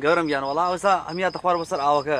گەورەم گیان وەڵا ئەوسا ئەمیاتە خوار بەسەر ئاوەکە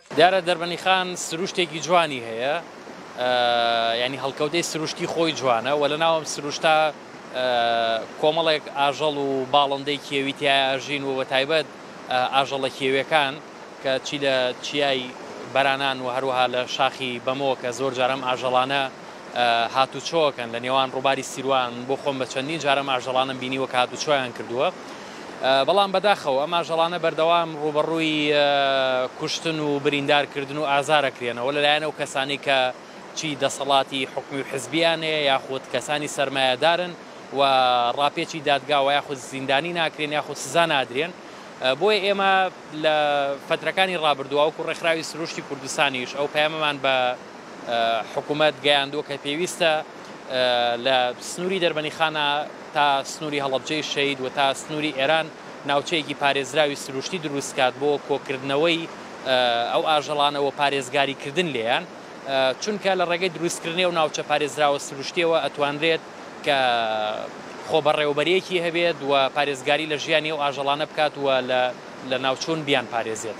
دیارە دەربەنیخان سروشتێکی جوانی هەیە یانی هەڵکەوتەی سروشتی خۆی جوانە و لە ناوم سروشتا کۆمەڵێک ئاژەڵ و باڵندەی کێوی تیاژین و بە تایبەت ئاژەڵە کێوێکان کە چی لە چیای بەرانان و هەروەها لە شاخی بەمەوە کە زۆر جارم ئاژەڵانە هات و چۆکەن لە نێوان ڕووباری سیروان بۆ خۆم بە چەندین جارم ئاژەڵانم بینی وە کات و چۆیان کردووە بەڵام بەداخەوە ئەم ئاژەڵانە بەردەوام ڕووبەڕووی کوشتن و بریندارکردن و ئازارەکرێنەوە لەلایەن ئەو کەسانی کە چی دەسەڵاتی حکومی و حزبیانەیە یاخود کەسانی سەرمایەدارن و ڕاپێچی دادگاوە یاخود زیندانی ناکرێن یاخود سزا نادرێن بۆیە ئێمە لە فترەکانی ڕابردووە وەکو ڕێکخراوی سروشتی کوردستانیش ئەو پەیامەمان بە حکوومەت گەیاندووە کە پێویستە لە سنووری دەربەنیخانە تا سنووری هەڵەبجەی شەهید و تا سنووری ئێران ناوچەیەکی پارێزراوی سروشتی دروست بکات بۆ کۆکردنەوەی ئەو ئاژەڵانە و پارێزگاریکردن لێیان، چونکە لە ڕێگەی دروستکردنی ئەو ناوچە پارێزراوە سروشتییەوە ئەتوانرێت کە خۆبەڕێوەبەرییەکی هەبێت و پارێزگاری لە ژیانی ئەو ئاژەڵانە بکات و لەناوچوون بیانپارێزێت.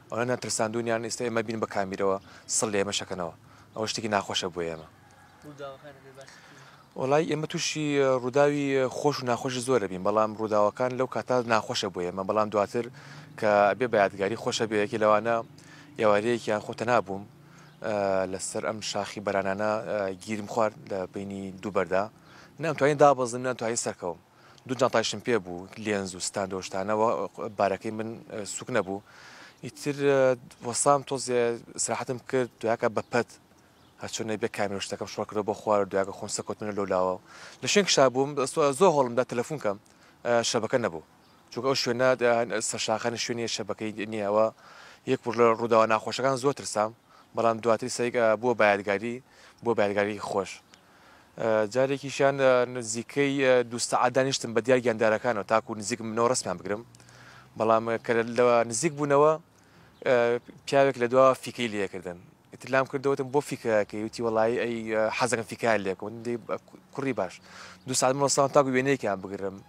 ئەونانیان ترساندونیان ئیستا ئێمە بین بە کامیرەوە سڵ لە ئێمە شەکەنەوە ئەوە شتێکی ناخۆشە بۆ ئێمە وڵی ئێمە تووشی ڕووداوی خۆش و ناخۆشی زۆرە بین بەڵام ڕووداوەکان لەو کاتا ناخۆشە بۆ ئێمە بەڵام دواتر کە بێ بەیادگاری خۆشە بەیەکی لەوانە ئێوارەیەکیان خۆتە نابووم لەسەر ئەم شاخی بەرانانە گیرم خوارد لە بینی دووبەردا نامتوانین دابەزم ناتوانین سەرکەوم دوو جانتایشم پێ بوو لێنز و ستاند و شتانەوە بارەکەی من سوک نەبوو ئیتر وەسام تۆزێ سراحەتم کرد دویاکە بە پەت هەرچۆن نەبێ کامێرە شتەکەم شڕکرەوە بۆ خوارە دویاکە خۆم سەکۆتمنە لەو لاوە لە شوێن کشا بووم زۆر هەڵمدا تەلەفون کەم شەبەکە نەبوو چونکە ئەو شوێنە سەرشاخانی شوێنی شەبەکەی نییەوە یەک لە ڕووداوە ناخۆشەکان زۆر ترسام بەڵام دواتری سەیگە بووە بایدگاری بۆ بایدگاری خۆش جارێکیشیان نزیکەی دوو سەعات دانیشتم بە دیار گیاندارەکانەوە تاکو نزیکم بنەوە ڕسمیان بگرم بەڵام کە لە نزیک بوونەوە پیاوێک لە دوا فیکەی لەکردن ئیتلام کردوتم بۆ فیکەکەی وتی وڵی ئەی حەزەکە فیکار لێکم کوڕی باش دو ساعت مەسان تاکو وێنەیەکیان بگرم